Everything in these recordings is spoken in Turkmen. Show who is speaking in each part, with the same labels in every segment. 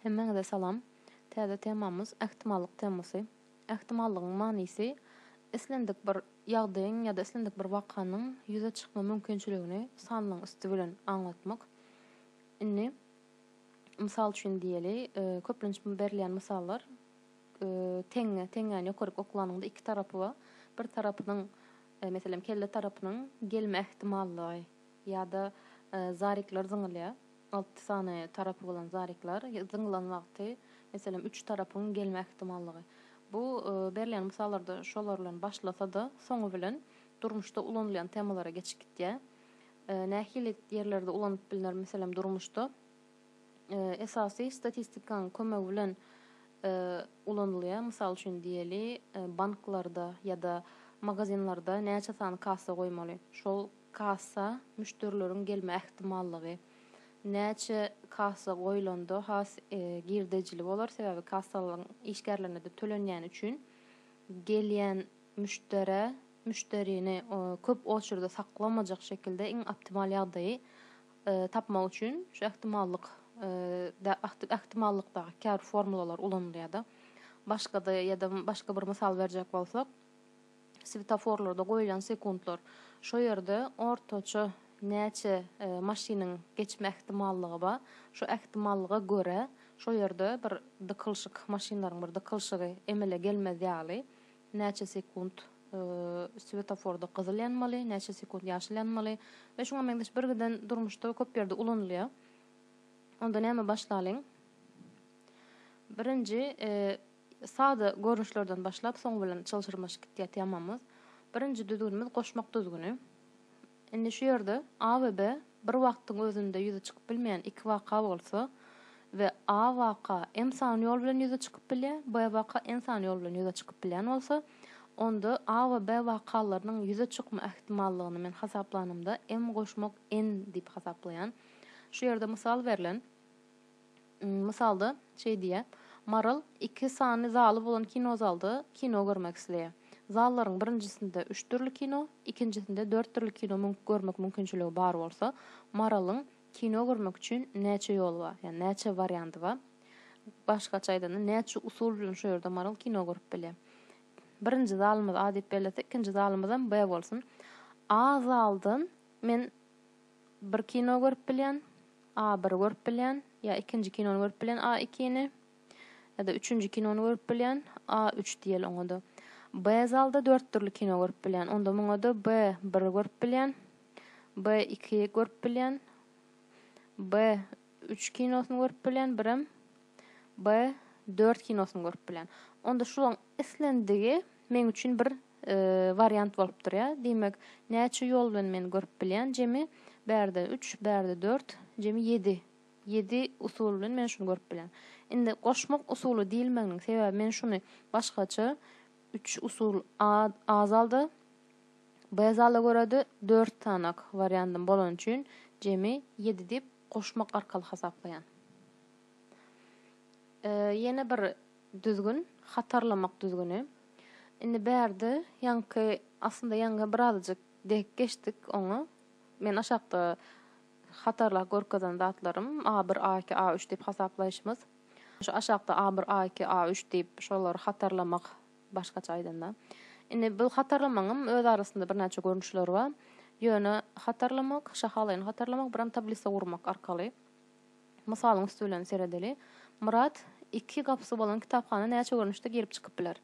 Speaker 1: Hemmäňize salam. Täze temamyz Ähtimallyk temasy. Ähtimallygyň manysy islendik bir ýagdaýyň ýa-da islendik bir wakanyň ýüze çykma mümkinçiligini sanlaryň üsti bilen aňlatmak. Indi mysal üçin diýeli, köplenç berilýän mysallar teňňe, teňňäni ýokaryk oklanyňda iki tarapy bar. Bir tarapynyň, meselem kelle tarapynyň gelme ähtimallygy. Ýa-da zarikler zyňylýar. Alty sany tarapy bolan zarikler zyňylan wagty, meselem, üç tarapyň gelme ähtimallygy. Bu berilýän mysallarda şolar bilen başlasa-da, soňy bilen durmuşda ulanylýan temalara geçip gitýär. Nähili ýerlerde ulanyp bilner? Meselem, durmuşda esasy statistikanyň kömegi bilen ulanylýar. Mysal üçin diýeli, banklarda ýa-da magazinlerde näçe sany kassa goýmaly? Şol Kassa, müşderileriň gelme ähtimallygy. Näçe kassa goýlanda has girdejili bolar, sebäbi kassalaryň işgärlerine-de tölenýäni üçin gelýän müşderä, müşderini köp oçerda saklamajak şekilde iň optimal ýagdaýy tapmak üçin şu ähtimallyk ähtimallykdaky käbir formulalar ulanylýar-da. Başga-da ýa-da başga bir mysal berjek bolsak, Swetaforlarda goýlan sekuntlar, şo ýerde ortaça näçe maşynyň geçme ähtimallygy bar, şo ähtimallyga görä, şo ýerde bir dykylyşyk, maşynlaryň bir dykylyşygy emele gelmez ýaly, näçe sekunt swetaforda gyzyl ýanmaly, näçe sekunt ýaşyl ýanmaly we şuňa meňzeş birgiden durmuşda köp ýerde ulanylýar. Onda näme başlalyň? Birinji, Sada görnüşlerden başlap, soň bilen çylşyrmaşyk gitýär temamyz. Birinji düzgünimiz goşmak düzgüni. Indi şu ýerde A we B bir wagtyň özünde ýüze çykyp bilmeýän iki waka bolsa we A waka m sany ýol bilen ýüze çykyp bilýär, B waka n sany ýol bilen ýüze çykyp bilýän bolsa, onda A we B wakalarynyň ýüze çykma ähtimallygyny men hasaplanymda m goşmak n diýip hasaplaýan. Şu ýerde mysal berlen. Mysalda, şeý diýýär, Maral iki sany zaly bolan kinozalda kino görmek isleýär. Zallaryň birinjisinde üç dürli kino, ikinjisinde dört dürli kino görmek mümkinçiligi bar bolsa, Maralyň kino görmek üçin näçe ýoly bar, ýagny näçe warianty bar? Başgaça aýdanda, näçe usul bilen şu ýerde Maral kino görüp bilýär? Birinji zalymyz A diýip bellesek, ikinji zalymyzam B bolsun. A zaldan men bir kino görüp bilýän, A-bir görüp bilýän, ýa ikinji kinony görüp bilýän, A-ikini, ýa-da üçünji kinony görüp bilýän, A-üç diýeli oňa-da. B-zalda dört dürli kino görüp bilýän, onda muňa-da B-biri görüp bilýän, B-iki görüp bilýän, B-üç kinosyny görüp bilýän, birem B-dört kinosyny görüp bilýän. Onda şularyň islendigi. Meň üçin bir wariant bolup durýar. Diýmek, näçe ýol bilen men görüp bilýän? Jemi bärde üç, bärde dört, jemi ýedi. Ýedi usul bilen men şuny görüp bilýän. Indi goşmak usuly diýilmeginiň sebäbi men şuny başgaça üç usul a a zalda, b zala görä-de dört sanak wariantym bolany üçin jemi ýedi diýip goşmak arkaly hasaplaýan. Ýene bir düzgün, hatarlamak düzgüni. Indi bärde ýaňky, aslynda ýaňky birazajyk dek geçdik oňa. Men aşakda hatarlap görkezen zatlarym A1, A2, A3 diýip hasaplaýşymyz. Şu aşakda A1, A2, A3 diýip şolary hatarlamak başgaça aýdanda. Indi bu hatarlamagyň öz arasynda birnäçe görnüşleri bar. Ýöne hatarlamak, şahalaýyn hatarlamak, biram tablisa gurmak arkaly. Mysalyň üsti bilen seredeli. Myrat, iki gapysy bolan kitaphana näçe görnüşde girip-çykyp biler?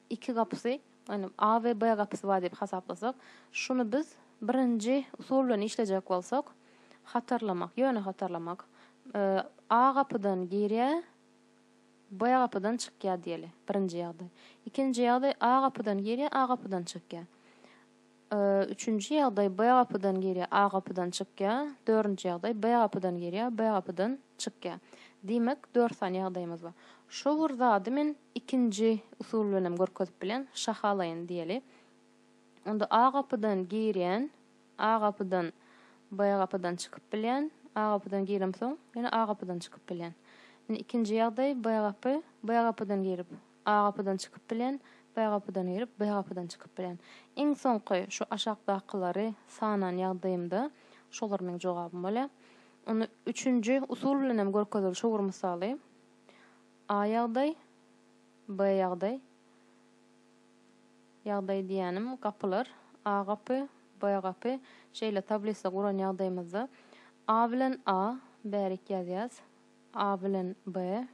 Speaker 1: Iki gapysy, ýagny A we B gapysy bar diýip hasaplasak, şuny biz birinji usul bilen işlejek bolsak, hatarlamak, ýöne hatarlamak. A gapydan girýär, B gapydan çykýar diýeli, birinji ýagdaý. Ikinji ýagdaý, A gapydan girýär, A gapydan çykýar. Üçünji ýagdaý B gapydan girýär, A gapydan çykýar. Dördünji ýagdaý B gapydan girýär, B gapydan çykýar. Diýmek, dört sany ýagdaýymyz bar. Şu bir zady men ikinji usul bilen hem görkezip bilen, şahalaýyn diýeli. Onda A gapydan girýän, A gapydan B gapydan çykyp bilýän, A gapydan giremsoň, ýene A gapydan çykyp bilýän. Indi ikinji ýagdaý B gapy, B gapydan girip, A gapydan çykyp bilen, B gapydan girip, B gapydan çykyp bilen. Iň soňky şu aşakdakylary sanan ýagdaýymda şolar meň jogabym bolýar. Onda üçünji usul bilen hem görkezildi şu bir mysaly. A ýagdaý, B ýagdaý. Ýagdaý diýýänim gapylar, A gapy, B gapy. Şeýle tablisa guran ýagdaýymyzda A bilen A bärik ýazýas, A bilen B.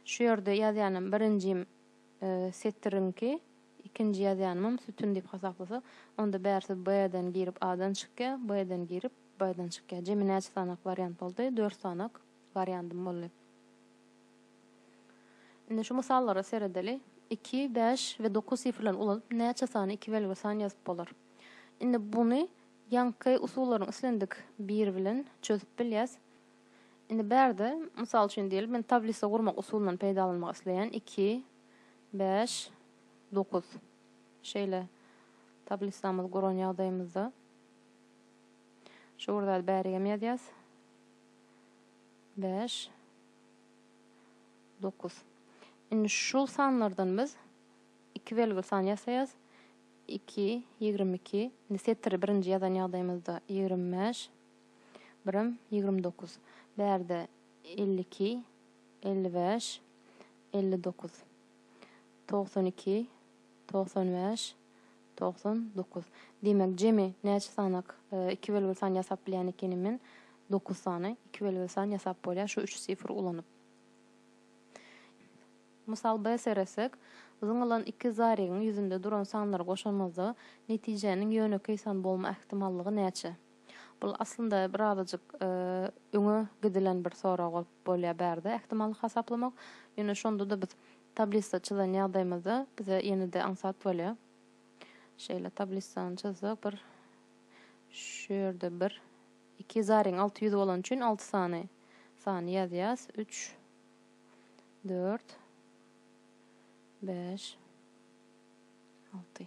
Speaker 1: Şu ýerde ýazýanam birinjim setiriňki, ikinji ýazýanymam sütün diýip hasaplasa, onda bärsi B-den girip A-dan çykýar, B-den girip B-dan çykýar. Jemi näçe sanak wariant boldy? Dört sanak wariandym boldy. Indi şu mysallara seredeli. Iki, bäş we dokuz sifrlerini ulanyp näçe sany iki belgili san ýazyp bolar? Indi buny ýaňky usullaryň islendik biri bilen çözüp bilýäs. Indi bärde, mysal üçin diýeli, men tablisa gurmak usulyndan peýdalanmak isleýän, iki, bäş, dokuz. Şeýle tablisamy guran ýagdaýymyzda şu bir zady bärigem ýazýas. Bäş, dokuz. Indi şu sanlardan biz iki belgili san ýasaýas. Iki, ýigrimi iki. Indi setiri birinji ýazan ýagdaýymyzda ýigrimi bäş. Birim, ýigrimi dokuz. Bärde, elli iki, elli bäş, elli dokuz. Togsan iki, togsan bäş, togsan dokuz. Diýmek, jemi näçe sanak, iki belgili san ýasap bilýän ekenim men. Dokuz sany iki belgili san ýasap bolýar şu üç sifr ulanyp. Mysal B seretsek, zyňylan iki zaregiň ýüzünde duran sanlary goşamyzda netijäniň ýönekeý san bolma ähtimallygy näçe? Bul aslynda bir azajyk öňe gidilen bir sorag bolup bolýar bärde ähtimallyk hasaplamak. Ýöne şondada biz tablisa çyzan ýagdaýymyzda bize ýenede aňsat bolýar. Şeýle tablisany çyzsak bir şu ýerde bir iki zaryň alty ýüzi bolany üçin alty sany sany ýazýas. Üç dört beş alty.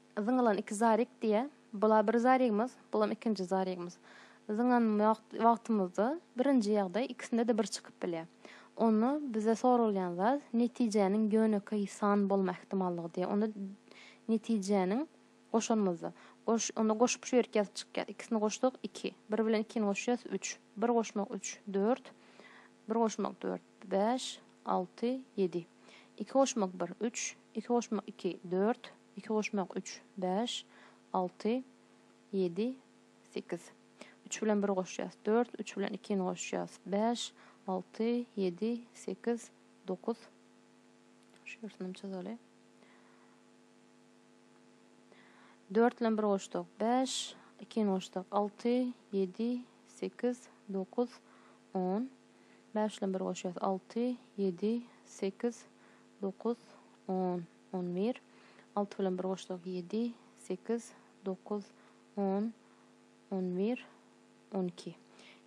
Speaker 1: Zyňylan iki zarik diýýä. Bula bir zarigimiz, bulam ikinji zarigimiz. Zyňan wagtymyzda birinji ýagdaý ikisinde-de bir çykyp bilýär. Onda bize soralýan zat netijäniň ýönekeý san bolma ähtimallygy diýýär. Onda netijäniň goşanymyzda, goş, onda goşup şu ýerik ýazyp çykýar. Ikisini goşsak, iki. Bir bilen ikini goşýas, üç. Bir goşmak, üç, dört. Bir goşmak, dört, bäş, alty, ýedi. Iki goşmak, bir, üç. Iki goşmak, iki, dört. Iki goşmak üç, bäş, alty, ýedi, sekiz. Üç bilen bir goşýas, dört, üç bilen ikini goşýas, bäş, alty, ýedi, sekiz, dokuz, şu ýersinim çyzaly. Dört bilen bir goşsak, bäş, ikini goşsak, alty, ýedi, sekiz, dokuz, on. Bäş bilen bir goşýas, alty, ýedi, sekiz, dokuz, on. On bir. Alty bilen bir goşsak, ýedi, sekiz, dokuz, on, on bir, on iki.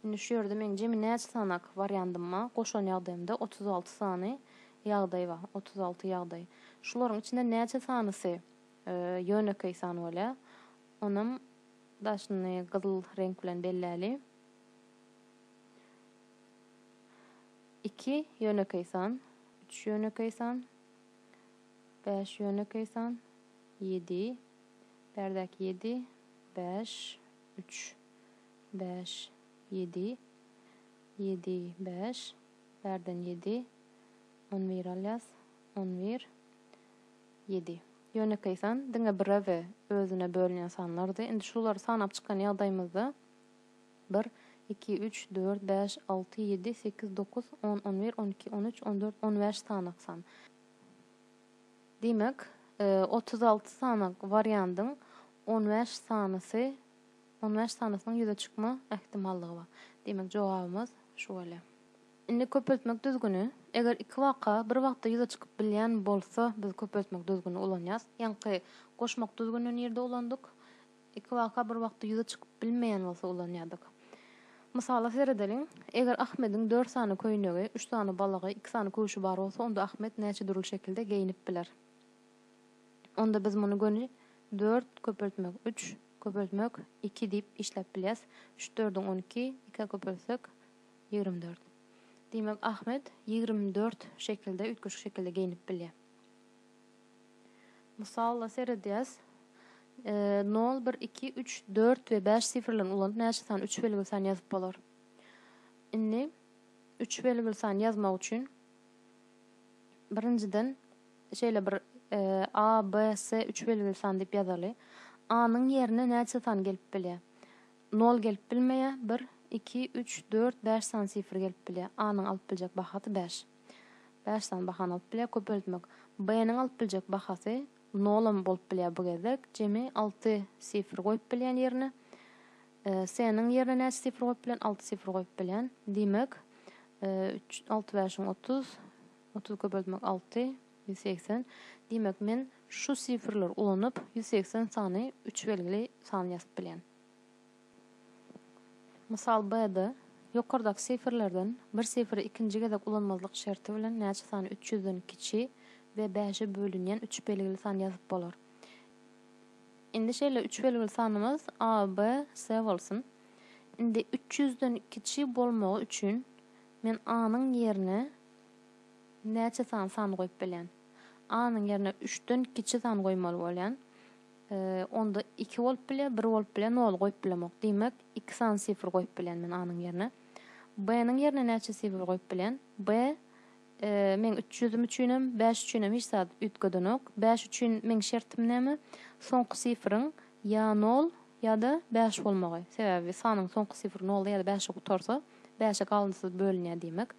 Speaker 1: Indi şu ýerde meň jemi näçe sanak wariandyma goşan ýagdaýymda otuz alty sany ýagdaý bar. Otuz alty ýagdaý. Şularyň içinden näçe sanysy ýönekeý san bolýar? Onam daşyny gyzyl reňk bilen belläli. Iki ýönekeý san, üç ýönekeý san, Bäş ýönekeý san, ýedi, bärdäki ýedi, bäş, üç, bäş, ýedi, ýedi, bäş, bärden ýedi, on bir alýas, on bir, ýedi. Ýönekeý san, diňe bire we özüne bölünýän sanlardy. Indi şulary sanap çykan ýagdaýymyzda Bir, iki, üç, dört, bäş, alty, ýedi, sekiz, dokuz, on, on bir, on iki, on üç, on dört, on bäş sanak san. Diýmek, otuz alty sanak wariandyň on bäş sanysy on bäş sanasynyň ýüze çykma ähtimallygy bar. Diýmek, jogabymyz şu bolýar. Indi köpeltmek düzgüni. Eger iki waka bir wagtda ýüze çykyp bilýän bolsa, biz köpeltmek düzgünini ulanýarys. Ýaňky goşmak düzgünini nirde ulandyk? Iki waka bir wagtda ýüze çykyp bilmeýän bolsa ulanýardyk. Mysala seredeliň, eger Ahmediň dört sany köýnegi, üç sany balagy, iki sany köwşi bar bolsa, onda Ahmet näçe dürli şekilde geýinip biler? Onda biz muny göni dört köpeltmek üç köpeltmek iki diýip işläp bilýäs. Üç dördüň on iki, ikä köpeltsek, ýigrimi dört. Diýmek, Ahmet ýigrimi dört şekilde, üýtgeşik şekilde geýinip bilýär. Mysala seredýäs. Nol, bir, iki, üç, dört we bäş sifrlerini ulanyp näçe sany üç belgili san ýazyp bolar? Indi üç belgili san ýazmak üçin birinjiden şeýle bir A, B, S üç belgili san diýip ýazaly. A-nyň ýerine näçe san gelip bilýär? Nol gelip bilmeýär. Bir, iki, üç, dört, bäş sany sifr gelip bilýär. A-nyň alyp biljek bahasy bäş. Bäş sany bahany alyp bilýär, köpeltmek. B-niň alyp biljek bahasy nolam bolup bilýär bu gezek. Jemi alty sifr goýup bilýän ýerine. S-niň ýerine näçe sifr goýup bilýän? Alty sifr goýup bilýän. Diýmek, üç, alty bäşiň otuz, otuz köpeltmek alty, ýüz segsen. Diýmek, men şu sifrleri ulanyp, ýüz segsen sany üç belgili san ýazyp bilýän. Mysal B-de, ýokardaky sifrlerden bir sifri ikinji gezek ulanmazlyk şerti bilen näçe sany üç ýüzden kiçi we bäşe bölünýän üç belgili san ýazyp bolar? Indi şeýle üç belgili sanymyz A, B, C bolsun. Indi üç ýüzden kiçi bolmagy üçin men A-nyň ýerine näçe sany san goýup bilýän? A-nyň ýerine üçden kiçi san goýmaly bolýan. Onda iki bolup biler, bir bolup biler, nol goýup bilemok. Diýmek, iki sany sifr goýup bilen men A-nyň ýerine. B-nyň ýerine näçe sifr goýup bilen? B meň 300-üm üçin hem, 5 üçin hem hiç zat üýtgedenok. 5 üçin meň şertim näme? Soňky sifriň ýa nol, ýa-da 5 bolmagy. Sebäbi sanyň soňky sifri nolda ýa-da 5-de gutarsa, 5-e galyndysyz bölünýär diýmek.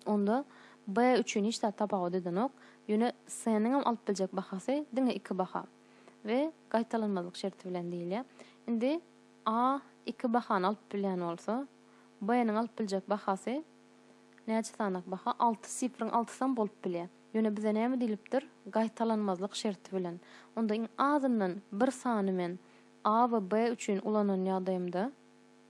Speaker 1: Onda B üçin hiç zat tapawut edenok. Ýöne C-niňem alyp biljek bahasy diňe iki baha we gaýtalanmazlyk şerti bilen diýilýär. Indi A iki bahany alyp bilýän bolsa, B-niň alyp biljek bahasy näçe sanak baha? Alty sifriň altysam bolup bilýär. Ýöne bize näme diýlipdir? Gaýtalanmazlyk şerti bilen. Onda iň azyndan bir sany men A we B üçin ulanan ýagdaýymda,